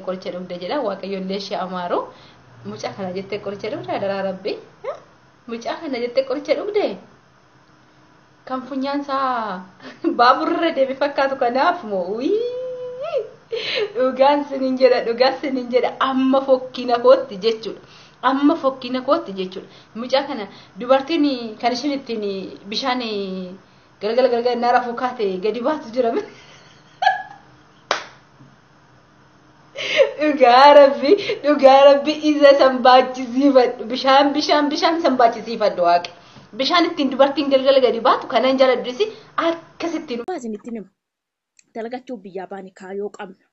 qoricha dhugde jedha waaqayyo illee ishee amaaru mucaa kana jettee qoricha dhugde adaraa rabbi mucaa kana jettee qoricha dhugde kan funyaan isaa baaburra deeme fakkaatu kanaaf moo dhugaan sinin jedha dhugaan sinin jedha amma fokkina kootti jechuudha. Amma fokkina kootti jechuudha. Mucaa kana dubartiin kan ishiin ittiin bishaan galgala galgala innaa rafuu kaate gadi baatu jira. Dhugaa rabbi dhugaa rabbi isa san baachisiifadhu bishaan bishaan bishaan san baachisiifadhu waaqi. Bishaan ittiin dubartiin galgala gadi baatu kanan jala durisi akkasittiin. Isinitti nima. Dalagachuuf biyyaa baane kaayoo qabna.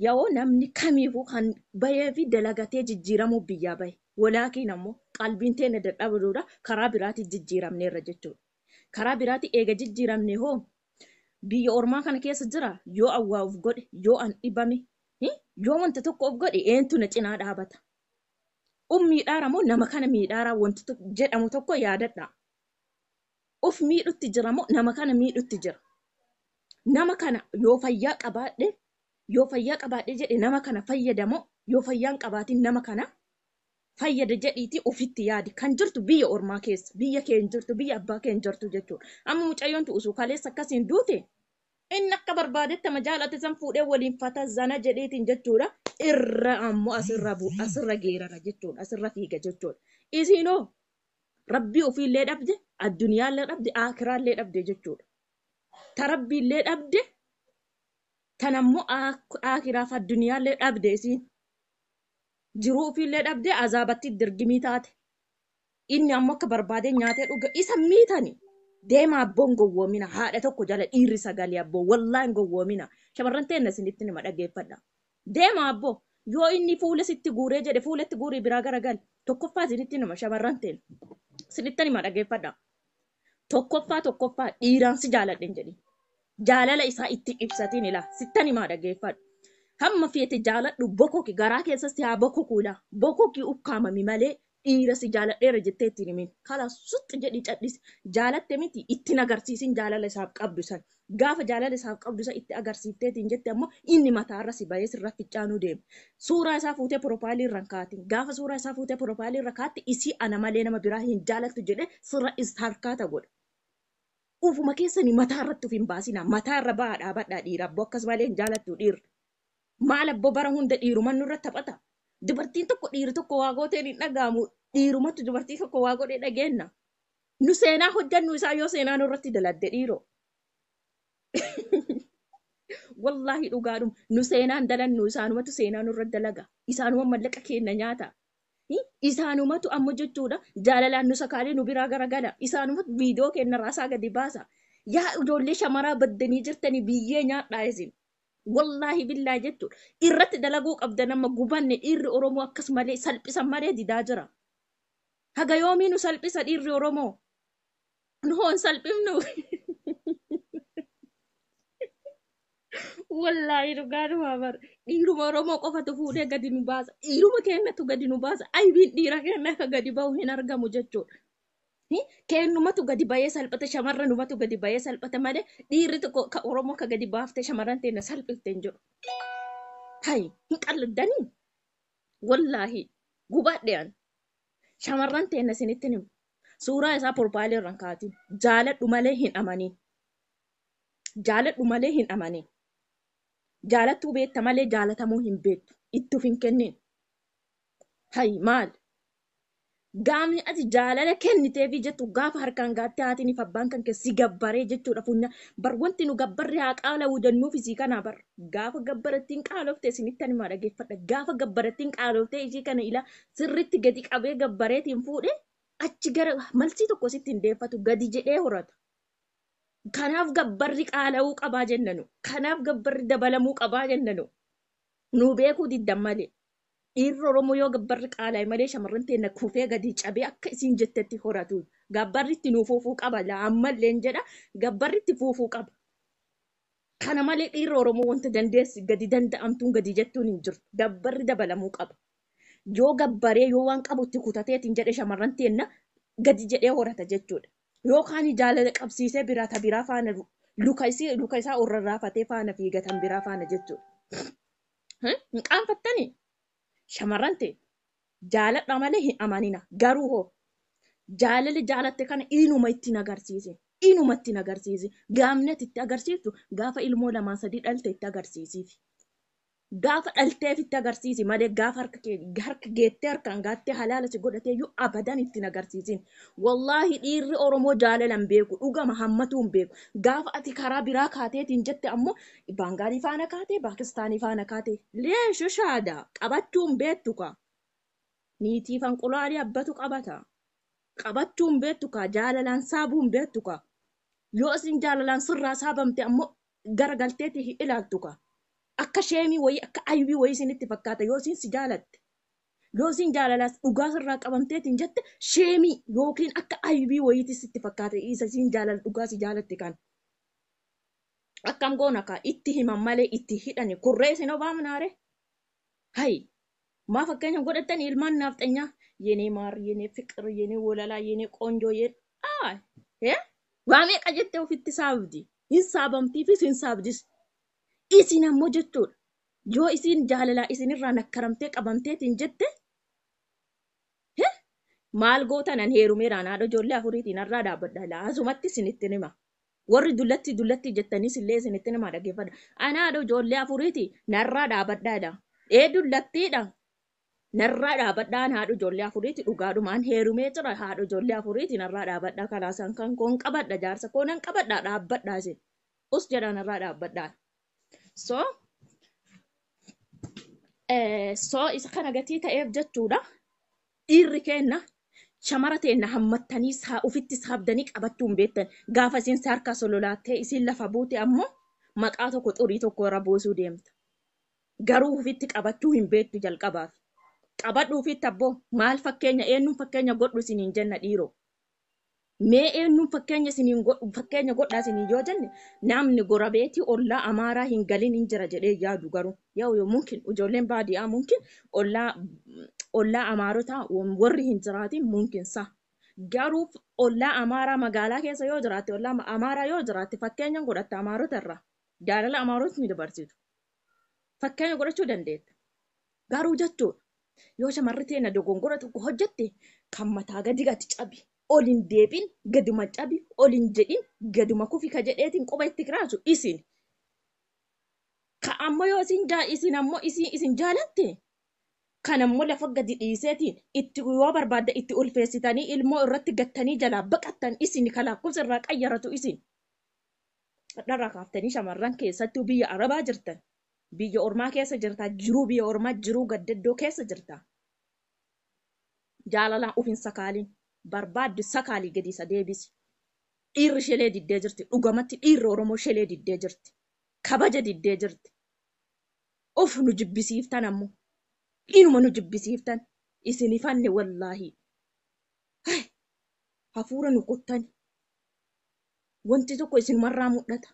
Yaoo namni kamiifuu kan bahee fi dalagatee jijjiiramuuf biyyaa bahe. Walaakiin ammoo qalbiin teenna dadhabuudha karaa biraatiin jijjiiramneerra jechuudha. Karaa biraatiin eega jijjiiramnee hoo biyya ormaa kana keessa jiraa? Yoo an waa uf godhe, yoo an dhibame, yoo wanta tokko uf godhe eentu na cinaa dhaabata? Uf miidhaara moo nama kana miidhaaraa wanti jedhamu tokko yaadadhaa. Of miidhutti jira moo nama kana miidhutti jira? Nama kana yoo fayyaa qabaadhe yoo fayyaa qabaadhe jedhe nama kana fayyada moo yoo fayyaa hin qabaatin nama kana fayyada jedhiitii ofitti yaadi. Kan jirtu biyya ormaa keessa biyya kee hin jirtu biyya abbaa kee hin jirtu jechuudha. Amma mucayyoon tu usuu kaleessa akkasiin duute inni akka barbaadetti ama jaalate san fuudhee waliin fata zana jedheetiin jechuudha. Irra ammoo asirra bu asirra geerara jechuudha asirra fiiga jechuudha. Isiinoo Rabbii ofiillee dhabde, addunyaallee dhabde, aakhiraallee dhabde jechuudha. Ta Rabbiillee dhabde, tan ammoo aakhiraaf addunyaallee dhabde isiin. Jiruu ofiillee dhabde, azaabattii dirgimii taate. Inni ammoo akka barbaadee nyaatee dhuga. Isa miitani. Deema abboon gowwoomina. Haadha tokko jala dhiirri sagalee abboo. Wallaahi hin gowwoomina. Shamarran teenna isinitti nima dhageeffadha. Deema abboo! Yoo inni fuula sitti guuree jedhe fuula itti guurii biraa garagali. Tokkoffaa isinitti hima shamarran teena. Isinittan hima dhageeffadhaa. Tokkoffaa tokkoffaa dhiiraan si jaaladhe hin jedhin. Jaalala isaa itti hin ibsatiin ilaa. Sittan himaa dhageeffadhu. Hamma feete jaaladhu bokoki garaa keessas si haa bokoku ilaa. Bokoki ukkaamami malee Dhiira si jaaladheera jettee itti hin himin. Kalaas suxx jedhii cadhisi. Jaalatte miti itti hin agarsiisin jaalala isaaf qabdu san. Gaafa jaalala isaaf qabdu san itti agarsiifteetiin jette ammoo inni mataarra si bahee sirra ficcaanuu deema. Suuraa isaa fuutee porofaayilii irra hin kaatin. Gaafa suuraa isaa fuutee porofaayilii irra kaatte isii ana malee nama biraa hin jaalattu jedhee sirra istarkaata godha. Ufuma keessanii mataa irratti uf hin baasinaa. Mataa irra bahaa dhaabadhaa dhiira abboo akkas malee hin jaalattuu dhiirri. Maal abbo bara hunda dhiiruman nurra taphata? Dubartiin tokko dhiiri tokko waa gooteen hin dhaga'amu dhiirumatu dubartii tokko waa godhee dhageenna. Nu seenaa hojjannu isaa yoo seenaa nurratti daladde dhiiroo. Wallaahi dhugaadhuma nu seenaan dalannu isaanumatu seenaa nurra dalaga. Isaanuma mallaqa keenna nyaata. Hi? Isaanumatu amma jechuudha jaalalaan nu sakaalee nu biraa garagala. Isaanumatu viidiyoo keenna raasaa gadi baasa. Yaa ijoollee shamaraa baddanii jirtanii biyyee nyaadhaa isin. Wallaahi billaahi jechuudha. Irratti dalaguu qabdan amma gubanne dhiirri Oromoo akkas malee salphisan malee didaa jira. Haga yoomii nu salphisa dhiirri Oromoo? Nu hoo hin salphifnu? Wallaahi dhugaa dhumaa bar. Dhiiruma Oromoo qofatu fuudhee gadi nu baasa. Dhiiruma keenyatu gadi nu baasa. Aybiin dhiira keenya akka gadi ba'u hin argamu jechuudha. Keennumatu gadi bahee salphata shamarranumatu gadi bahee salphata malee dhiirri tokko ka Oromoo ka gadi baaftee shamarran teenna salphifte hin jiru. Hay hin qalladdanii wallaahi gubaadhe an shamarran teenna isinittin himu suuraa isaa porpaalii irraan kaatiin jaaladhu malee hin amaniin jaaladhu malee hin amaniin jaalattuu beetta malee jaalatamuu hin beettu itti of hin kenniin Hay maal? Gaafni ati jaalala kenniteefii jettu gaafa harkaan gaattee haatiiniif abbaan kan kee si gabbaree jechuudha funyaan. Bar wanti nu gabbarri haa qaalawu jennuuf isii kanaa bar. Gaafa gabbarattiin qaalofte isinitti ani maa dhageeffadha. Gaafa gabbarattiin qaaloftee ishii kana ilaa sirritti gadi qabee gabbareetiin fuudhe achi gara malsii tokko sitti hin deeffatu gadi jedhee horata. Kanaaf gabbarri qaala'uu qabaa jennanu. Kanaaf gabbarri dabalamuu qabaa jennanu. Nuu beekuu diddan malee. Dhiirri Oromoo yoo gabbarri qaalaa'e malee shamarran teenna kufee gadi cabee akka isiin jettetti horatu. Gabbarri itti nuu fuufuu qaba laa ammalleen jedha gabbarri itti fuufuu qaba. Kana malee dhiirri Oromoo wanta dandeessi gadi danda'amtuun gadi jettuun hin jirtu. Gabbarri dabalamuu qaba. Yoo gabbaree yoo waan qabu itti kutateetiin jedhe shamarran teenna gadi jedhee horata jechuudha. Yoo kaani jaalala qabsiisee biraa ta biraa faana luka isii luka isaa ol rarraafatee faana fiiga tan biraa faana jechuudha. Hin hin qaanfattanii? Shamarran tee jaaladha malee hin amanina. Garuu hoo jaalala jaalatte kana inuma itti hin agarsiisin. Inuma itti hin agarsiisin. Gaafni ati itti agarsiiftu gaafa ilmoo lamaa sadii dhalte itti agarsiisiif. Gaafa dhalteef itti agarsiisi malee gaafa harka kee harka geettee harkaan gaattee halaala si godhatee iyyuu abadan itti hin agarsiisin. Wallaahi dhiirri Oromoo jaalala hin beeku. Dhugama hammatuu hin beeku. Gaafa ati karaa biraa kaateetiin jette ammoo Baangaalii faana kaatee Paakistaanii faana kaatee. Leesh ishaada qabattuu hin beektu kaa niitii fanqulaalii abbatu qabata qabattuu hin beektu kaa jaalalaan saabuu hin beektu kaa yoo isin jaalalaan sirraa saabamte ammoo garagalteeti hin ilaaltu kaa akka sheemii wayii akka aybii wayii isinitti fakkaata yoo isin si jaalatte yoo isin jaalalaas dhugaa sirraa qabamteetiin jette sheemii yookiin akka aybii wayiiti sitti fakkaata isa isin jaalala dhugaa si jaalatte kan akkam goona kaa itti himan malee itti hidhani kun rees hin obaamnaa ree hayi maa fakkeenya godhattani ilmaan naafxanyaa yenee maar yenee fiqir yenee wolalaa yenee qoonjoo yen aa hee waa meeqa jettee ofitti saabdi hin saabamtiifis hin saabdis isin ammoo jechuudha yoo isin jaalalaa isinirraa nakkaramtee qabamteetiin jette hee maal gootanan heerumeeraan haadha ijoollee afuriitiin har'aa dhaabbadha laa asumatti isinittin hima Warri dullattii dullattii jettaniis illee isinitti namaa dhaggeeffadha. Ani haadha ijoollee afuriiti narraa dhaabadhaa jedha. Ee dullattiidha. Narraa dhaabadhaa ani haadha ijoollee afuriiti dhugaadhuma an heerumee jira haadha ijoollee afuriiti narraa dhaabadhaa kalaasaan kan koon qabadha jaarsa koo nan qabadha dhaabbadhaa isin. Us jedhaa narraa dhaabbadhaa. So so isa kana gatii ta'eef jechuudha. Dhiirri keenna shamara teenna hammattanii saa ufitti saabdanii qabattuu hin beettan. Gaafa isiin si harkaa sololaattee isiin lafa buute ammoo maqaa tokko xurii tokko irra buusuu deemta. Garuu ufitti qabattuu hin beettu jalqabaaf. Qabadhu ufitti abboo! Maal fakkeenya eennuun fakkeenya godhu isiniin jenna dhiiroo? Mee eenyuun fakkeenya isiniin godhu fakkeenya godhaa isiniin yoo jenne namni gorabeetii ollaa amaaraa hin galin hin jira jedhee hin yaadu garuu yoo yoo mumkin ijoolleen baadiyaa mumkin ollaa ollaa amaarotaa wam- warri hin jiraatin mumkin sa garuu f- ollaa amaaraa magaalaa keessa yoo jiraatte ollaa ma- amaaraa yoo jiraatte fakkeenyan godhatta amaarota irraa jaalala amaarotni dabarsitu fakkeenya godhachuu dandeetta Garuu jechuudha yoo shamarri teena dogongora tokko hojjette kan mataa gadi gadi cabi ol hin deebiin gaduma cabi ol hin jedhin gaduma kufi ka jedheetiin quba itti kiraasu isin ka ammoo yoo isin jaa isin ammoo isin isin jaalatte kan ammoo lafa gadi dhiiseetiin itti yoo barbaadda itti ulfeessitanii ilmoo irratti gattanii jalaa baqattan isin ka lakkoofsa irraa qayyaratu isin. Hadharraa kaaftanii shamarran keessattuu biyya arabaa jirtan biyya ormaa keessa jirtaa jiruu biyya ormaa jiruu gaddaddoo keessa jirtaa jaalalaan of hin sakaaliin barbaadde sakaalii gadi isa deebisi dhiirri shelee diddee jirti dhugamatti dhiirri oromoo shelee diddee jirti kabaja diddee jirti of nu jibbisiiftan ammo inuma nu jibbisiiftan isin hifanne wallaahii hay hafuura nu kuttani wanti tokko isinumarraa mudhata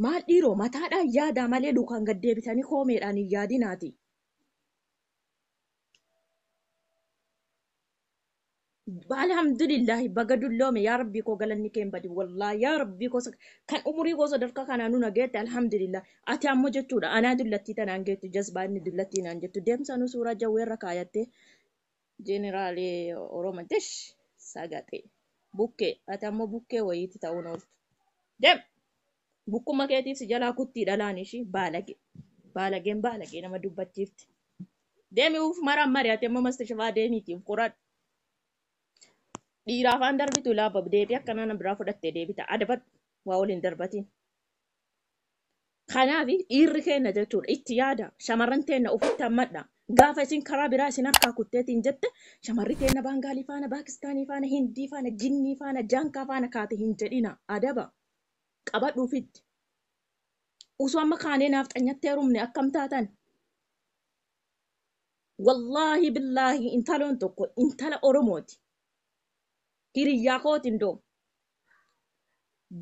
Maal dhiiroo mataadhaan yaadaa malee lukaan gad deebitanii koomeedhaan hin yaadinaatii. Alhamdulillahi baga dulloome yaa rabbii koo galanni kee hin badin wallahi yaa rabbii koo sak- kan umurii koo sadarkaa kanaa nuna geette alhamdulillahi ati ammoo jechuudha anaa dullattii tanaan geettu jazbaa inni dullattii naan jettu deemsanuu suuraa jawweerra kaayattee General Oromo desh sagaxee. Bukkee. Ati ammoo bukkee wayiitti ta'uun ooltu. Dem! Bukkumma keetiif si jalaa kuttii dhalaan ishii baalage. Baalageen baalagee nama dubbachiifti. Deemi uuf marammari ati ammoo mastashafaa deemiiti uf qoradhu. Dhiiraa afaan darbitu laabab deebii akkanaa na biraa fudhattee deebita adabadhu waa waliin darbatiin. Kanaaf dhiirri keenna jechuudha itti yaada shamarran teenna ofitti hammadha. Gaafa isin karaa biraa isin harkaa kutteetiin jette shamarri teenna Baangaalii faana, Paakistaanii faana, Hindii faana, Jinnii faana, Jaankaa faana kaate hin jedhina. Adaba qabadhu ofitti. Usuu amma kaanee naafxanyatti heerumne akkam taatan? Wallaahi billaahi intaloon tokko intala Oromooti. Hiriyyaa kooti indoo.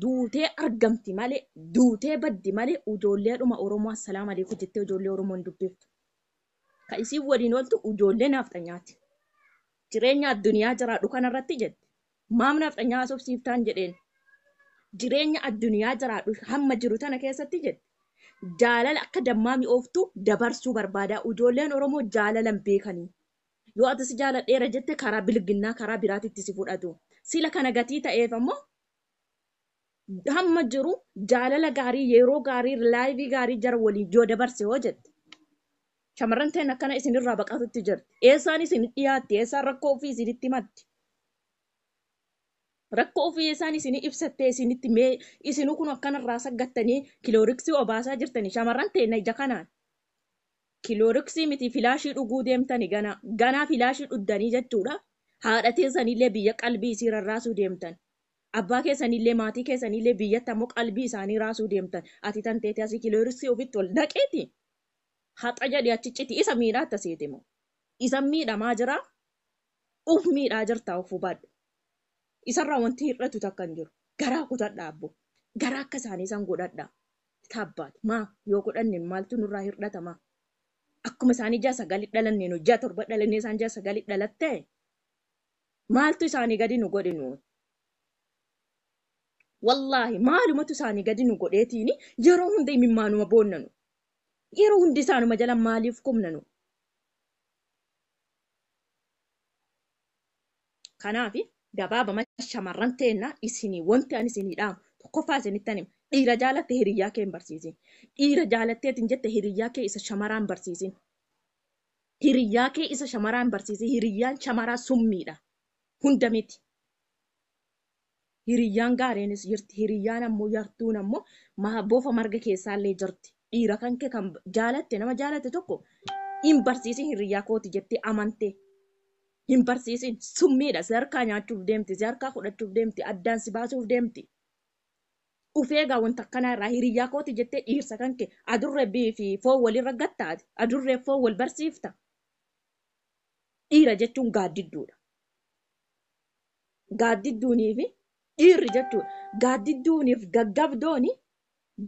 duutee argamti malee duutee baddi malee ujoolleedhuma Oromoo assalaamu alaikum jettee ujoollee Oromoo hin dubbiftu. Ka isiin waliin ooltu ujoollee naafxanyaati. Jireenya addunyaa jiraadhu kanarratti jette maaf naafxanyaa haasofsiiftaan jedheen. Jireenya addunyaa jiraadhu hamma jiru tana keessatti jette jaalala akka dammaa mi'ooftu dabarsuu barbaadaa ujoolleen Oromoo jaalalan beekanii. Yoo ati si jaaladheera jette karaa bilginnaa karaa biraatitti si fudhatu. Sila kana gatii ta'eef ammoo hamma jiru jaalala gaarii yeroo gaarii laayivii gaarii jara waliin yoo dabarse hoo jette. Shamarran teen akkana isinirraa baqatutti jirti. Eessaan isin dhiyaatti eessaan rakkoo ofii isinitti himatti. Rakkoo ofii eessaan isinii ibsattee isinitti mee isinuu kun akkanarraa saggattanii kilooriksii obaasaa jirtanii shamarran teenna ija kanaan. Kilooriksii miti filaashii dhuguu deemtani ganaa. Ganaa filaashii dhuddanii jechuudha. Haadha teessanillee biyya qalbii isii rarraasuu deemtan. Abbaa keessanillee maatii keessanillee biyyatti ammoo qalbii isaanii raasuu deemtan. Ati tan teete asii kilooriksii ofitti ol naqeeti haxa jedhi achi citi isa miidhaatta seete moo. Isan miidhamaa jira uf miidhaa jirta of hubadhu. Isarraa wanti hir'atu takka hin jiru. Garaa kutadhaa abbo. Garaa akka isaanii san godhadhaa. Itaabbaatu maa yoo godhanne maaltu nurraa hirdhata maa akkuma isaanii ji'a sagali dhalanne nu ji'a torba dhalannee isaan ji'a sagali dhalatte maaltu isaanii gadi nu godhe nu wallaahi maalumatu isaanii gadi nu godheetiini yeroo hunda imimmaanuma boonnanu yeroo hundi isaanuma jala maaliif kumnanu Kanaaf gabaabamatti shamarran teenna isinii wanti ani isinii dhaamu tokkoffaa isinittan hima. Dhiira jaalatte hiriyyaa kee hin barsiisin. Dhiira jaalatteeti hin jette hiriyyaa kee isa shamaraa hin barsiisin. Hiriyyaa kee isa shamaraa hin barsiisin. Hiriyyaan shamaraa summiidha. Hunda miti. Hiriyyaan gaariinis jirti. Hiriyyaan ammoo yartuun ammoo ma- bofa marga keessaallee jirti. Dhiira kan kee kan jaalatte nama jaalatte tokko hin barsiisin hiriyyaa kooti jettee amantee. Hin barsiisin summiidha si harkaa nyaachuuf deemti si harkaa fudhachuuf deemti addaan si baasuuf deemti. Of eegaa wanta akkanaa irraa hiriyyaa kooti jettee dhiirsa kan kee adurree bi- fi foon walirra gatta ati adurree foon wal barsiifta. Dhiira jechuun gaaddidduudha. gaaddidduunii fi dhiirri jechuudha. Gaaddidduuniif gaggabdooni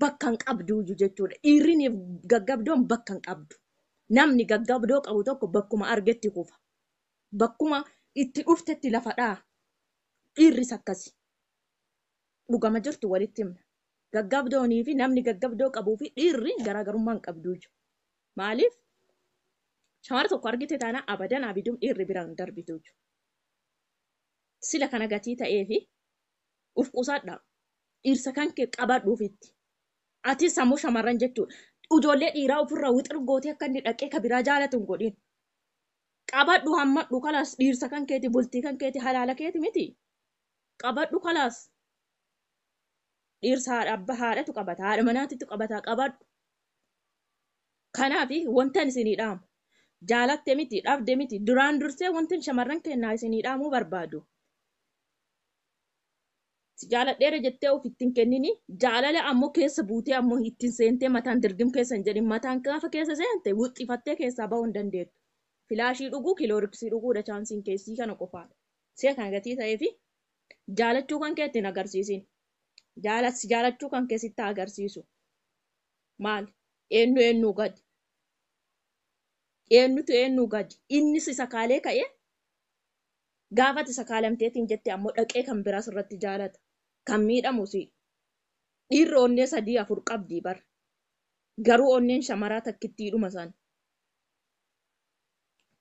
bakka hin qabduuyyu jechuudha. Dhiirriniif gaggabdoon bakka hin qabdu. Namni gaggabdoo qabu tokko bakkuma argetti kufa. Bakkuma itti dhuftetti lafa dha'a. Dhiirris akkasi. Dhugama jirtu walitti himna. Gaggabdoonii fi namni gaggabdoo qabuu fi dhiirri garaagarummaa hin qabduuyyu. Maaliif? Shamara tokko argite taana abadan abidum dhiirri bira hin darbituuyyu. sila kana gatii ta'eefi uf qusadha dhirsa kanke qabadhu ufitti atis sammuu shamarran jechudha ijoollee dhiiraa ofirra wixir gootee akka inni dhaqee ka biraa jaalatu hin godhin qabadhu hammadhu kalaas dhiirsa kan keeti bultii kan keeti halaala keeti miti qabadhu kalaas dhiirsa haadha abba haadhatu qabata haadha manaatitu qabata qabadhu Kanaaf wantan isinii dhaamu, jaalatte miti, dhabde miti, duraan dursee wantan shamarran keennaa isinii dhaamuu barbaadu, si jaaladheera jettee of itti hin kennini, jaalala ammoo keessa buutee ammoo ittiin seentee mataan dirgim keessa hin jedhin, mataan gaafa keessa seente wuxxifattee keessaa bahuu hin dandeettu. Filaashii dhuguu, kilooriksii dhuguudha chaansiin kee isii kana qofaadha. Ishee kana gatii ta'eefi jaalachuu kan kee itti hin agarsiisin. Jaala, si jaalachuu kan kee sitti haa agarsiisu. Maali? Eennu eennuu gadi? Eennutu eennuu gadi? Inni si sakaalee ka'ee gaafa ati sakaalamteetiin jette ammoo dhaqee kan biraa sirratti jaalata. Kan miidhamu si. Dhiirri onnee sadii afur qabdii bar. Garuu onneen shamaraa takkittiidhuma san.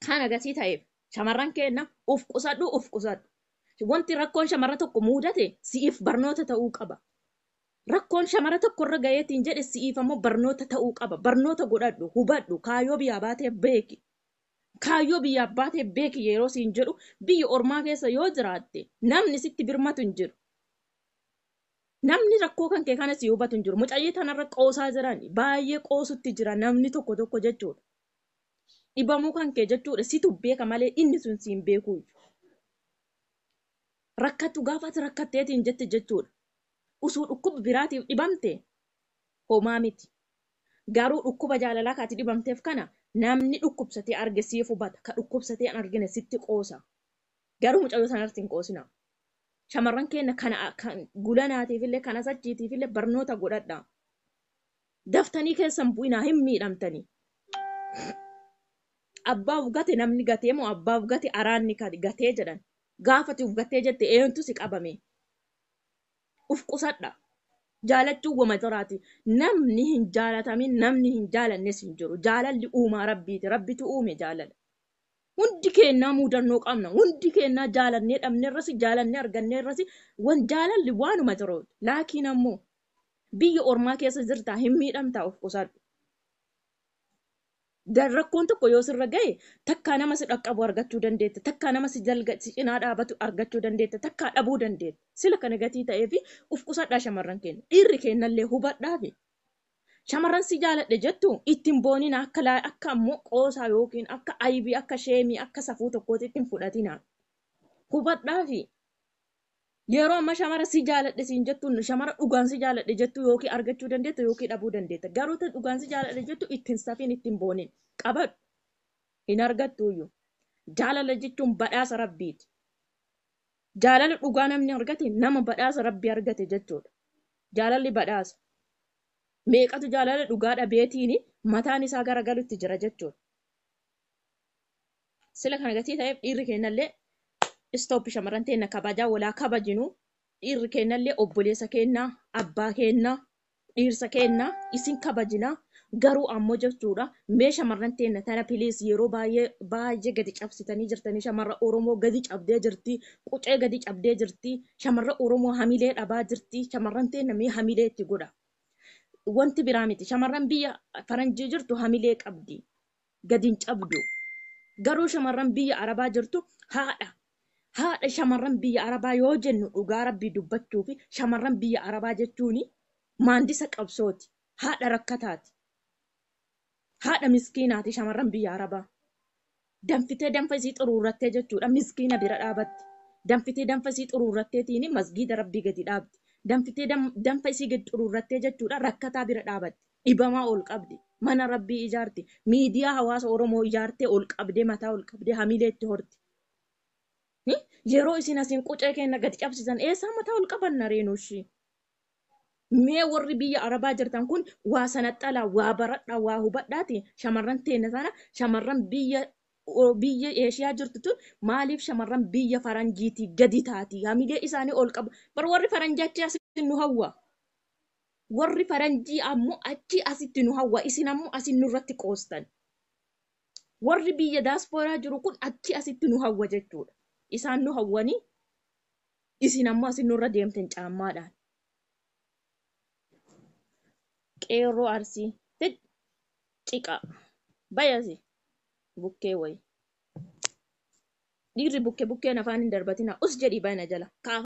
Kan agasii ta'eef shamarran keenna uf qusadhu uf qusadhu. Wanti rakkoon shamarra tokko muudate si'if barnoota ta'uu qaba. Rakkoon shamara tokko irra gayeetiin jedhe si'iif ammoo barnoota ta'uu qaba. Barnoota godhadhu, hubadhu, kaayoo biyyaa baatee beeki. Kaayyoo biyyaaf baatee beeki yeroo siin jedhu biyya ormaa keessa yoo jiraatte namni sitti birmatu hin jiru. Namni rakkoo kan kee kana si hubatu hin jiru. Mucayyii tanarra qoosaa jirani. Baay'ee qoosutti jira namni tokko tokko jechuudha. Dhibamuu kan kee jechuudha situ beeka malee inni sun siin beekuuyyu. rakkattu gaafa ati rakkatteetiin jette jechuudha. Usuu dhukkuba biraatiif dhibamte homaa miti. Garuu dhukkuba jaalalaa ka ati dhibamteef kana namni dhukkubsatee arge siif hubata. Ka dhukkubsatee hin argine sitti qoosa. Garuu mucayyoo tanarratti hin qoosinaa. Shamarran keenna kana kan gulanaatiifillee kan asachiitiifillee barnoota godhadhaa. Daftanii keessa hin bu'inaa hin miidhamtanii. Abbaaf gate namni gatee moo abbaaf gate araanni ka- gatee jedhan. Gaafa ati uf gattee jette eentu si qaba mee? Uf qusadha. Jaalachuun wama jiraati. Namni hin jaalatamin namni hin jaalannes hin jiru. Jaalalli uumaa Rabbiiti. Rabbitu uume jaalala. Hundi keennaa muudannoo qabna. Hundi keennaa jaalannee dhabnerrasi, jaalannee arganneerrasi wan jaalalli waanuma jiruuti. Laakiin ammoo biyya ormaa keessa jirtaa hin miidhamtaa uf qusadhu. Da- rakkoon tokko yoo sirra gahe takkaa nama si dhaqqabu argachuu dandeetta takkaa nama si jalga si cinaa dhaabatu argachuu dandeetta takkaa dhabuu dandeetta sila kana gatii ta'ee fi uf qusadhaa shamarran keenya dhiirri keennallee hubadhaa fi shamarran si jaaladhe jettu ittiin boonina akka laa akka ammoo qoosaa yookiin akka aybii akka sheemii akka safuu tokkootti ittiin fudhatina hubadhaa fi Yeroo amma shamara si jaaladhe siin jettu shamara dhugaan si jaaladhe jettu yookiin argachuu dandeetta yookiin dhabuu dandeetta. Garuu tan dhugaan si jaaladhe jettu ittiin safiin ittiin boonin qabadhu hin argattuuyyu. Jaalala jechuun badhaasa rabbiiti. Jaalala dhugaa namni argate nama badhaasa rabbii argate jechuudha. Jaalalli badhaasa. Meeqatu jaalala dhugaa dhabeetiini mataan isaa garagalutti jira jechuudha. Sila kana gatii ta'eef dhiirri keennallee stop shamarran teenna kabajaa walaa kabajinu dhiirri keennallee obboleessa keennaa abbaa keennaa dhiirsa keennaa isin kabajina garuu ammoo jechuudha mee shamarran teenna tana piliis yeroo baay'ee baay'ee gadi cabsitanii jirtanii shamarra Oromoo gadi cabdee jirti qucee gadi cabdee jirti shamarra Oromoo hamilee dhabaa jirti shamarran teenna mee hamilee itti godha wanti biraa miti shamarran biyya faranjii jirtu hamilee qabdi gad hin cabdu. Garuu shamarran biyya Arabaa jirtu haadha. Haadha shamarran biyya Arabaa yoo jennu dhugaa rabbii dubbachuufi shamarran biyya Arabaa jechuun maandisa qabsooti. Haadha rakkataati. Haadha miskiinaati shamarran biyya Arabaa. Danfitee danfa isii xuruurrattee jechuudha miskiina bira dhaabatti. Danfitee danfa isii xuruurratteetiin masgiida rabbii gadi dhaabdi. Danfitee danfa isii gadi xuruurrattee jechuudha rakkataa bira dhaabatti. dhibamaa ol qabde mana rabbii ijaarte miidiyaa hawaasa oromoo ijaartee ol qabdee mataa ol qabdee hamilee itti horte Hi? yeroo isin asin qucee keenna gad cabsisan eessaa mataa ol qabanna reenuushi mee warri biyya arabaa jirtan kun waa sanaxxalaa waa baradhaa waa hubadhaati shamarran teenna sana shamarran biyya o- biyya eeshiyaa jirtu tun maaliif shamarran biyya faranjiitii gadi taati hamilee isaanii ol qabu bar warri faranjii achi as nu hawwa Warri faranjii ammo achii asitti nu hawwa, isin ammo asin nurratti qoostan. Warri biyya daaspooraa jiru kun achii asitti nu hawwa jechuudha. Isaan nu hawwanii isin ammo asin nurra deemtan caammaadhaan. Qeerroo Arsii fid ciqaa bayasi bukkee wayi. Dhiirri bukke bukkeen afaan hin darbatinaa us jedhii bana jala.